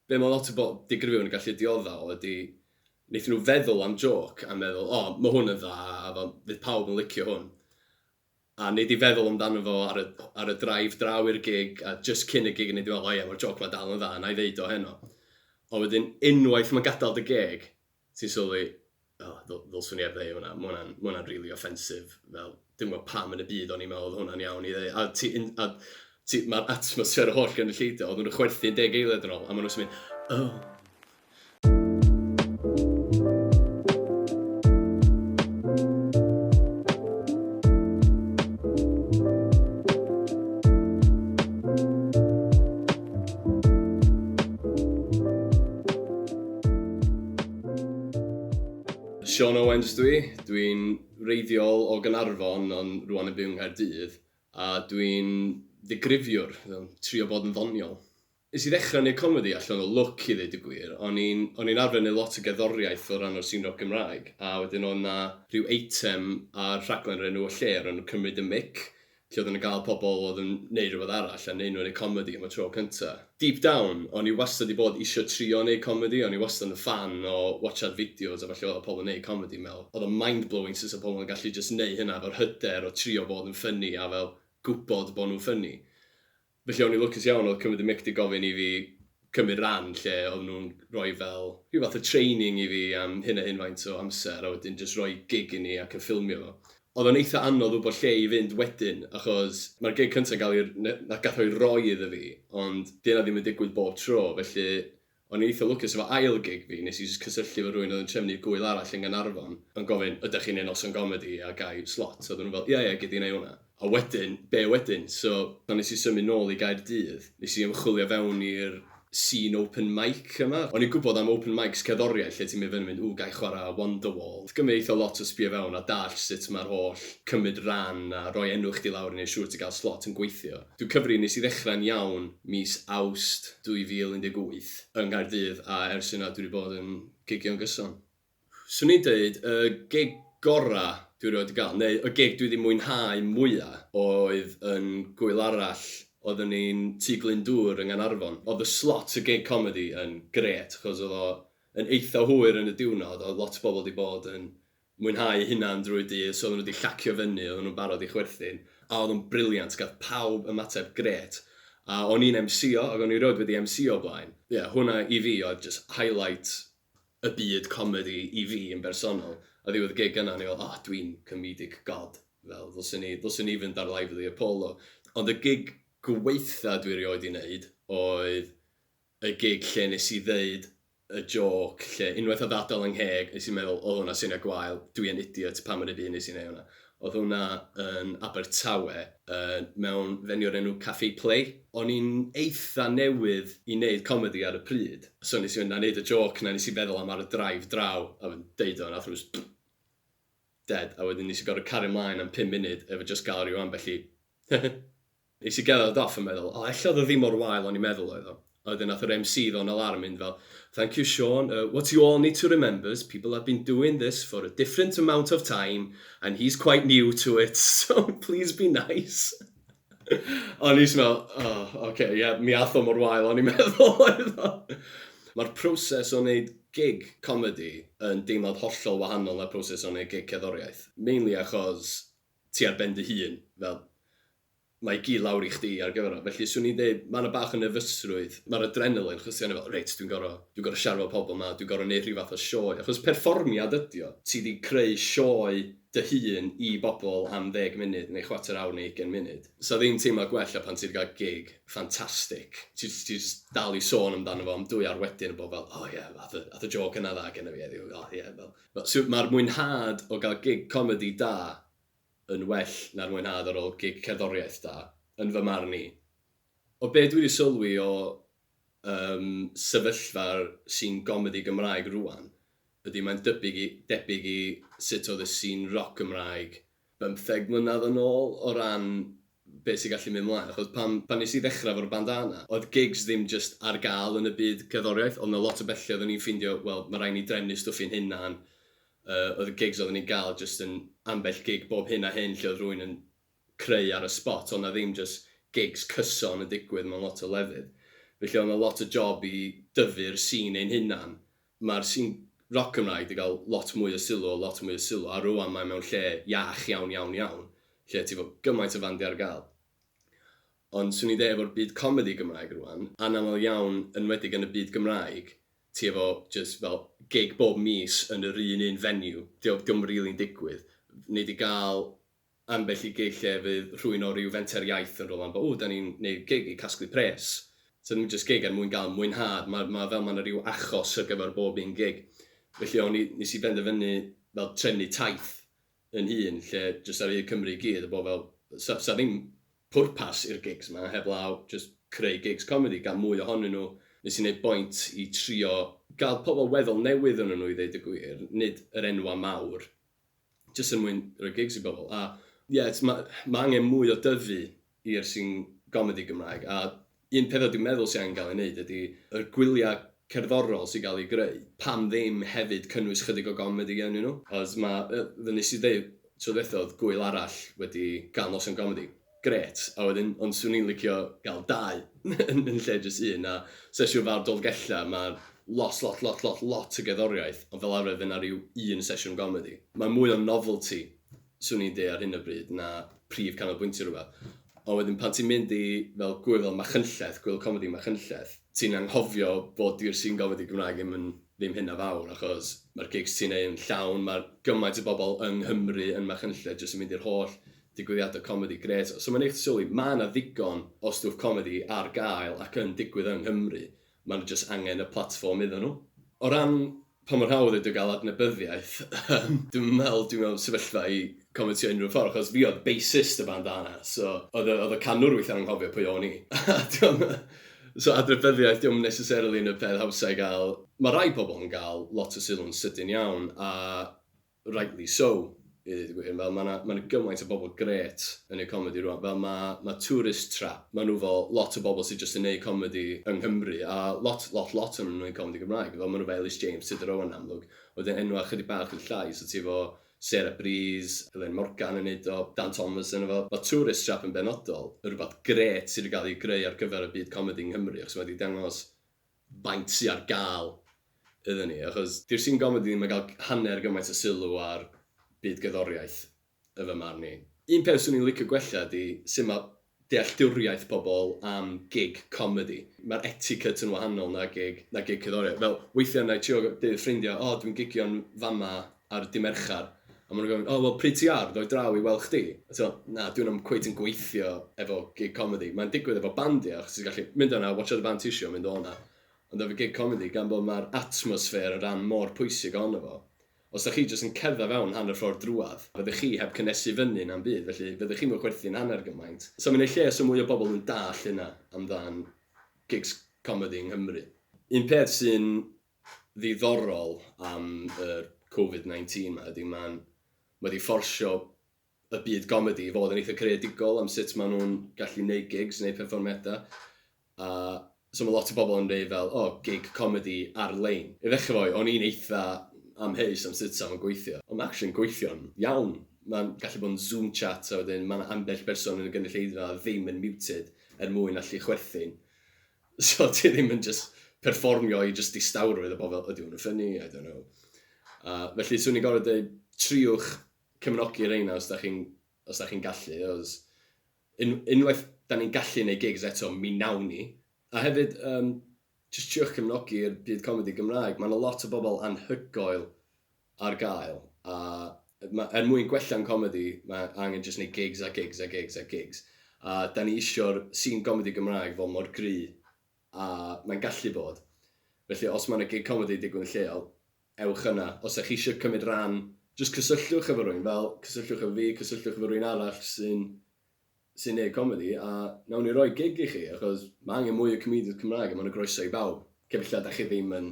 Be mae lot o bobl digrifio yn gallu diodda o ydy, wnaethon nhw feddwl am jôc a meddwl, o, mae hwn yn dda a fel, fydd pawb yn licio hwn. A wnei di feddwl amdano fo ar y, ar y drive draw i'r gig a jyst cyn y gig a wnei di feddwl, o ie, mae'r jôc ma dal yn dda, wna i ddeud o heno. Ond wedyn, unwaith mae'n gadael dy geg, Ti'n sylwi, o, ddylswn i heb ddeud hwnna, ma' hwnna'n, ma' hwnna'n rili offensive, fel, dwi'm yn gwybod pam yn y byd o'n i'n meddwl oedd hwnna'n iawn i ddeud. A ti yn, a ti, mae'r atmosffer o holl gynulleidfa, oedden nhw'n chwerthin deg eiliad yn ôl, a maen nhw'n mynd, oh. Sean Owens dwi, dwi'n reiddiol o Gaernarfon ond rwan yn byw yng Nghaerdydd a dwi'n ddigrifiwr, trio bod yn ddoniol. Nes i ddechrau neud comedi allan o lwc i ddeud y gwir, o'n i'n o'n i'n arfer neud lot o gerddoriaeth o ran o'r sîn roc Gymraeg a wedyn oedd 'na rhyw eitem ar rhaglen o'r enw 'Y Lle' o'r enw 'Cymryd y Mic' Ti oedd yn gael pobl oedd yn neud rhywbeth arall a neud nhw yn neud comedi am y tro cynta. Deep down, o'n i wastad 'di bod isio trio neud comedi, o'n i wastad yn ffan o watsiad fideos a ballu oedd pobl yn neud comedi, me'l oedd o'n mind blowing sut oedd pobl yn gallu jyst neud hynna efo'r hyder o trio bod yn ffyni a fel gwbod bod nhw'n ffyni. Felly o'n i'n lwcus iawn, oedd Cymru Dymeict 'di gofyn i fi cymryd ran lle oedden nhw'n rhoi fel rhyw fath o training i fi am hyn a hyn faint o amser a wedyn jyst rhoi gig i ni ac yn ffilmio fo. Oedd o'n eitha anodd wybod lle i fynd wedyn achos mae'r gig cynta'n cael ei r-, na- gath o'i roi iddo fi ond 'di hynna ddim yn digwydd bob tro felly O'n i'n eitha lwcus efo ail gig fi, nes i jyst cysylltu efo rywun oedd yn trefnu gŵyl arall yn Gaernarfon, yn gofyn, ydach chi'n neud noson gomedi a ga i slot? Oedden nhw fel, ia ia gei di neud hwnna. A wedyn, be' wedyn? So, pan nes i symud nôl i Gaerdydd, nes i ymchwilio fewn i'r scene open mic yma. O'n i'n gwbod am open mics cerddoriaeth lle ti'n mynd fyny mynd, ww ga i chwara Wonderwall. Oedd gymryd eitha lot o sbio fewn a dallt sut ma'r holl cymryd ran a roi enw chdi lawr i neud siŵr ti ga'l slot yn gweithio. Dw cyfri nes i ddechrau'n iawn mis Awst 2018 yng Nghaerdydd a ers yna dwi wedi bod yn gigio'n gyson. Swn i'n deud y gig gorau dwi erioed wedi cael, neu y gig dwi wedi mwynhau mwya, oedd yn Gŵyl Arall, oeddwn i'n Tŷ Glyndŵr yng Nghanarfon. Oedd y slot y gig comedi yn grêt achos oedd o yn eitha hwyr yn y diwrnod a oedd lot o bobl wedi bod yn mwynhau eu hunain drwy'r dydd, so oedden nhw 'di llacio fyny, oedden nhw'n barod i chwerthin, a oedd o'n brilliant, gath pawb ymateb grêt, a o'n i'n emsïo, ac o'n i 'rioed wedi emsïo o blaen. Ie, hwnna i fi oedd jyst highlight y byd comedi i fi yn bersonol, a ddiwedd y gig yna o'n i fel, 'o, dwi'n comedic god, fel, ddylswn i, ddylswn i fynd ar Lively Apollo'. Ond y gig gwaetha dwi 'rioed 'di 'neud oedd y gig lle nes i ddeud y jôc lle unwaith oedd adel yng ngheg nes i meddwl oedd hwnna syniad gwael dwi yn idiot pam yr ydw i nes i neu hwnna oedd hwnna yn Abertawe yn mewn venue o'r enw Cafe Play o'n i'n eitha newydd i neud comedi ar y pryd so nes i fynd a neud y jôc na nes i feddwl am ar y drive draw a wedyn deud o nath nhw js dead a wedyn nes i gorfod cario mlaen am pum munud efo jyst gal ryw ambell i Nes i gerdded off yn meddwl, o ella oedd o ddim mor wael o'n i'n meddwl oedd o. A wedyn nath yr MC ddo'n alarm mynd fel, Thank you Shaun, uh, what you all need to remember's people have been doing this for a different amount of time and he's quite new to it so please be nice. o'n i'n meddwl, oh, ok, ie, yeah, mi ath o mor wael o'n i'n meddwl oedd o. Mae'r proses o wneud gig comedi yn deimlad hollol wahanol na'r proses o wneud gig cerddoriaeth. Mainly achos ti ar ben dy hun, fel, mae gi lawr i chdi ar gyfer o. Felly, swn i'n deud, mae 'na bach o nerfysrwydd, mae'r adrenaline, achos ti arno fel, reit, dwi'n gorfod, dwi'n gorfod siarad efo pobl 'ma, dwi'n gorfod 'neud rhyw fath o sioe, achos perfformiad ydi o, ti 'di creu sioe dy hun i bobl am ddeg munud, neu chwarter awr, neu ugain munud. 'Sa ddim teimlo gwell na pan ti 'di cael gig ffantastig, ti jyst, ti jyst dal i sôn amdano fo am dwy awr wedyn a bod fel, o ie, ath y, ath y jôc yna dda genna fi heddiw, o ie, fel. Mae'r mwynhad o gael gig comedi da yn well na'r mwynhad ar ôl gig cerddoriaeth da, yn fy marn i. O be dwi 'di sylwi o yym sefyllfa'r sîn gomedi Gymraeg rŵan ydi mae'n dybyg i debyg i sut oedd y sîn roc Gymraeg bymtheg mlynedd yn ôl o ran be sy'n gallu mynd mlaen achos pan pan nes i ddechrau efo'r bandana oedd gigs ddim jyst ar gael yn y byd cerddoriaeth oedd 'na lot o bethlle oedden ni'n ffeindio wel ma' raid ni drefnu stwff i'n hunan yy oedd y gigs oedden ni'n gael jyst yn ambell gig bob hyn a hyn lle oedd rhywun yn creu ar y sbot oedd 'na ddim jyst gigs cyson yn digwydd mewn lot o lefydd felly oedd 'na lot o job i dyfu'r sîn ein hunan Mae'r sin roc Gymraeg 'di gael lot mwy o sylw a lot mwy o sylw, a rŵan mae mewn lle iach iawn, iawn, iawn, lle ti 'fo gymaint o fandiau ar gael. Ond 'swn i'n deud efo'r byd comedi Gymraeg rŵan, anaml iawn, enwedig yn y byd Gymraeg, ti efo jyst fel gig bob mis yn yr un un venue, 'di o ddim rili'n digwydd. Nei di gael ambell i gig lle fydd rhywun o ryw fenter iaith yn rhoi lan bod, 'ww, dan ni'n neud gig i casglu pres'. So ddim jyst gig er mwyn gael mwynhad, ma' ma' fel ma' 'na ryw achos ar gyfer bob un gig. Felly o'n i... nes i benderfynu fel trefnu taith yn hun lle jyst ar hyd Cymru i gyd a bod fel 'sa 'sa ddim pwrpas i'r gigs 'ma heblaw jyst creu gigs comedi, gael mwy ohonyn nhw. Nes i neud bwynt i trio gael pobl weddol newydd ohonon nhw i ddeud y gwir, nid yr enwau mawr. jyst er mwyn rhoi gigs i bobl a ie t- ma' ma' angen mwy o dyfu i'r sin gomedi Gymraeg a un peth dwi'n meddwl sy angen gael ei wneud ydy y gwyliau cerddorol sy'n cael eu greu, pam ddim hefyd cynnwys chydig o gomedi ynnyn nhw? Achos ma' yy fel wnes i ddeud tro dwytha oedd gwyl arall wedi gael noson gomedi. Grêt, a wedyn, ond 'swn i'n licio gael dau yn lle jyst un, a sesiwn fawr Dolgellau, mae lot, lot, lot, lot, lot o gerddoriaeth, ond fel arfer fydd 'na ryw un sesiwn gomedi. Mae mwy o novelty, 'swn i'n deud ar hyn o bryd, na prif canolbwyntio rhywbeth. Ond wedyn pan ti'n mynd i fel gŵyl fel Machynlleth, gŵyl comedi Machynlleth, ti'n anghofio bod di'r sîn gomedi Gymraeg ddim yn ddim hynna fawr, achos mae'r gigs ti'n neud yn llawn, mae gymaint o bobl yng Nghymru yn Machynlleth jyst yn mynd i'r holl Digwyddiadau comedi grêt. So mae'n neud chdi sylwi, ma' 'na ddigon o stwff comedi ar gael ac yn digwydd yng Nghymru, ma' nhw jyst angen y platfform iddyn nhw. O ran pa mor hawdd ydi o gael adnabyddiaeth, yym dwi'm yn meddwl dwi mewn sefyllfa i comentio unrhyw ffordd achos fi oedd bassist y band arna, so oedd y oedd y canwr weithiau'n anghofio pwy o'n i. So adnabyddiaeth dio'm necessarily yn y peth hawsa i gael. Ma' rai pobl yn gael lot o sylw'n sydyn iawn a Rightly so, i ddeud y gwir. Fel ma' 'na, ma' 'na gymaint o bobl grêt yn neud comedi rŵan. Fel ma' ma' Tourist Trap, ma' nhw 'fo lot o bobl sy jyst yn neud comedi yng Nghymru, a lot lot lot ohonyn nhw'n neud comedi Gymraeg. Fel ma' nhw 'fo Elis James, Tudur Owen yn amlwg, a wedyn enwau chydig bach yn llai, so ti 'fo Sarah Breeze, Elain Morgan yn neud o, Dan Thomas ynddo fo. Ma' Tourist Trap yn benodol yn rwbath grêt sy 'di ga'l ei greu ar gyfer y byd comedi yng Nghymru, achos ma' 'di dangos faint sy ar gael iddyn ni, achos. Dy'r sîn gomedi ddim yn cael hanner gymaint o sylw â'r byd gerddoriaeth, yn fy marn i. Un peth 'swn i'n licio gwella ydy sut mae dealltwriaeth pobl am gig comedi. Mae'r etiquette yn wahanol na gig na gig cerddoriaeth. Fel, weithiau wna i trio deud wrth ffrindiau, 'O, dwi'n gigio'n fama. ar dy' Mercher, a maen nhw'n gofyn, 'O, wel, pryd ti ar, ddo i draw i weld chdi? A ti'n meddwl, 'Na, dyw hwnna cweit ddim yn gweithio efo gig comedi. Mae'n digwydd efo band ie, achos ti'n gallu mynd yna, watsiad y band ti isio a mynd o 'na. Ond efo gig comedi, gan bod mae'r atmosffer yn rhan mor pwysig ohono fo, os dach chi jyst yn cerdded fewn hanner ffordd drwadd, fyddech chi heb cynhesu fyny na'm byd, felly fyddech chi'm yn chwerthin hanner gymaint. So mae'n neud lles o mwy o bobl yn dallt hynna amdan gigs comedi yng Nghymru. Un peth sy'n ddiddorol am yr covid 19 'ma ydi ma'n ma' 'di fforsio y byd gomedi i fod yn eitha creadigol am sut ma' nhw'n gallu neud gigs neu perfformiada. A so ma' lot o bobl yn deud fel o gig comedi ar-lein. I ddechrau fo o'n i'n eitha amheus am sut 'sa fo'n gweithio ond ma' actually'n gweithio'n iawn. Ma'n gallu bod yn Zoom chat a wedyn ma' 'na ambell berson yn y gynulleidfa ddim yn muted er mwyn allu chwerthin. So ti ddim yn jyst perfformio i jyst distawrwydd a bod fel, ydy hwn yn ffynnu, I don't know. A felly, swn i'n gorfod dweud, triwch cefnogi reina os da chi'n os da chi'n gallu, os... un, unwaith da ni'n gallu neud gigs eto, mi nawn ni. A hefyd, um, jyst triwch cefnogi'r byd comedi Gymraeg. Mae yna lot o bobl anhygoel ar gael a ma' er mwyn gwella'n comedi mae angen jyst neud gigs a gigs a gigs a gigs a 'dan ni isio'r scene gomedi Gymraeg fod mor gry a mae'n gallu bod felly os ma' 'na gig comedi digwydd yn lleol ewch yna os 'da chi isio cymryd ran jyst cysylltwch efo rywun fel cysylltwch efo fi cysylltwch efo rywun arall sy'n sy'n neud comedi a nawn ni roi gig i chi achos ma' angen mwy o comedians Cymraeg a ma' 'na groeso i bawb cefn lle 'da chi ddim yn